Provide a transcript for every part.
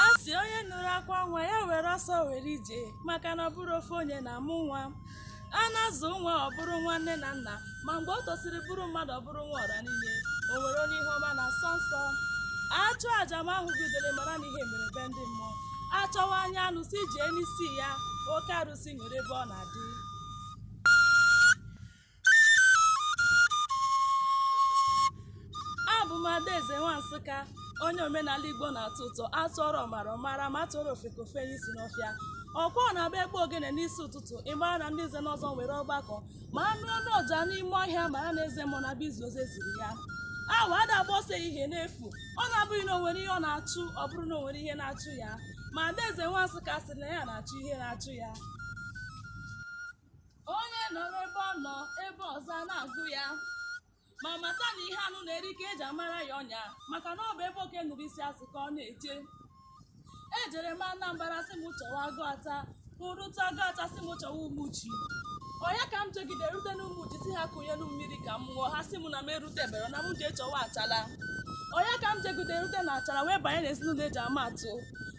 a sị onye nụrụ akwa nwa ya were ọsọ were ije maka na ọ bụrọ ofu onye na-amụ nwa a na-azụ nwa ọ bụrụ nwa nne na nna ma mgbe o tosiri bụrụ mmadụ ọ bụrụ nwa ọra niile o nwere onye ihe ọma na-asọ nsọ achụọ aja ma ahụghị udele mara na ihe mere be ndị mmụọ achọwa anya anụ sị jee n'isi ya oke arụsị nwere ebe ọ na-adị abụ m adaeze nwa nsụka onye omenala igbo na-atọ ụtọ atụọrọ ọmara ọ mara ma atụọrọ ofeke o fenye isi n'ọfịa ọ kwa ọ na-abụ akpọọ ogene n'isi ụtụtụ ị mara na ndị nze na ọzọ nwere ọgbakọ ma anụ ụda ọja n'ime ọhịa mara na eze mmụọ na bụ izu ozi e ziri ya awọ ada agba ọsọ ehihie n'efu ọ na-abụghị na o nwere ihe ọ na-achụ ọ bụrụ na o nwere ihe na-achụ ya ma adaeze nwa nsụka sịrị na ya na-achụ ihe na-achụ ya onye nọrọ ebe ọ nọ ebe ọzọ a na-agụ ya ma mata na ihe anụ na-eri ka eji amara ya ọnya maka na ọ bụ ebe oke nụrụ isi azụ ka ọ na-eje ejere m Anambra sị m chọwa Aguata rute Aguata sị m chọwa Umuchu ọ ya ka m jegide rute n'Umuchu sị ha kunyenụ m mmiri ka m ṅụọ ha sị m na m erutebero na m jee chọwa achala ọ ya ka m jegide rute na achara wee banye n'ezinụlọ eji ama atụ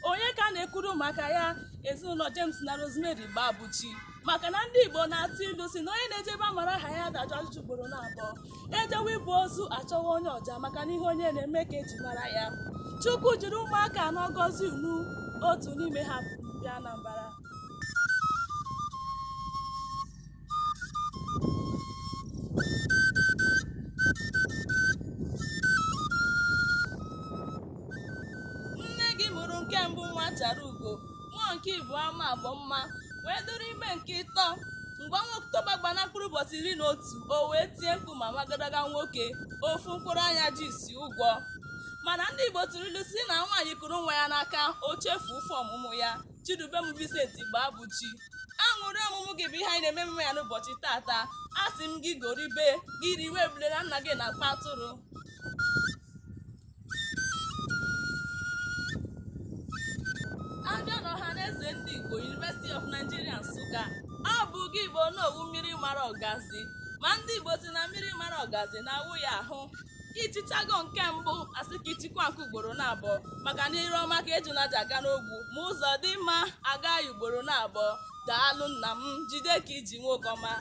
onye ka a na-ekwuru maka ya ezinụlọ James na Rosemary Gbabuchi maka na ndị Igbo na-atụ ilu sị na onye na-eje ebe amara aha ya ada ajụ ajụjụ ugboro na abụọ ejewe ibu ozu achọwa onye ọja maka na ihe onye na-eme ka eji mara ya Chukwu jiri ụmụaka anọ gọzie unu otu n'ime ha bụ ndị Anambra nne gị mụrụ nke mbụ nwa chara ugo mụọ nke ịbụa ma bụ mma wee dụrụ ime nke ịtọ mgbe ọnwa oktoba gbara mkpụrụ ụbọchị iri na otu o wee tie mkpu ma mụọ agadaga nwoke ofu mkpụrụ anya ji isi ụgwọ mana ndị igbo tụrụ ilu sị na nwaanyị kuru nwa ya n'aka o chefuo ụfụ ọmụmụ ya chidubem vincent gbabuchi aṅụrị ọmụmụ gị bụ ihe anyị na-eme emume ya n'ụbọchị taata a sị m gị goribe gị riwe ebule na nna gị na-akpa atụrụ abịa n'ọha na eze ndị igbo University of Nigeria Nsụka ọ bụ gị bụ onowu mmiri mara ọgazi ma ndị igbo sị na mmiri mara ọgazi na-awụ ya ahụ ị chịchago nke mbụ asị ka ị chịkwaa nke ugboro na abụọ maka na ire ọma ka ejuna ji aga n'ogwu ma ụzọ dị mma a gaa ya ugboro na abụọ daalụ nna m jide ka i ji nwoke ọma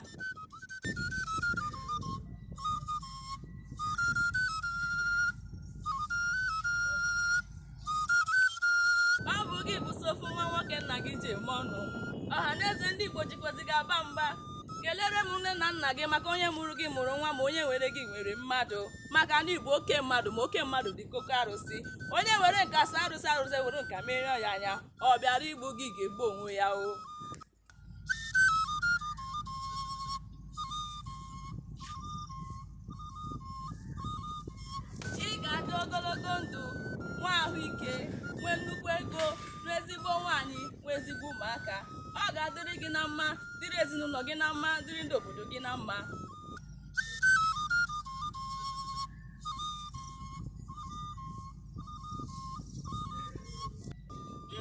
ọ bụ gị bụ sọ ofu nwa nwoke nna gị ji eme ọnụ ọha na eze ndị igbo jikwazi gị aba mba kelere m nne na nna gị maka onye mụrụ gị mụrụ nwa ma onye nwere gị nwere mmadụ maka na ị bụ oke mmadụ ma oke mmadụ dị ka oke arụsị onye were nka saa arụsị arụsị ewere nka merie ya anya ọ bịara igbu gị ga-egbu onwe ya o ị ga-adị ogologo ndụ nwee ahụike nwee nnukwu ego nwee ezigbo nwaanyị nwee ezigbo ụmụaka ọ ga-adịrị gị na mma dịrị ezinụlọ gị na mma dịrị ndị obodo gị na mma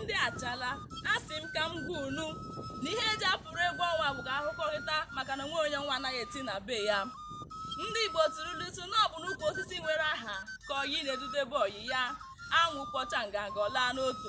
ndị achala asị m ka m gwa unu na ihe eji apụrụ egwu ọnwa bụ ka ahụkọrịta maka na o nweghị onye ọnwa anaghị eti na be ya ndị igbo tụrụ ilu sị na ọ bụ n'ukwu osisi nwere aha ka ọyị na-edudebe ọyị ya anwụ kpọcha nganga ọ laa n'otu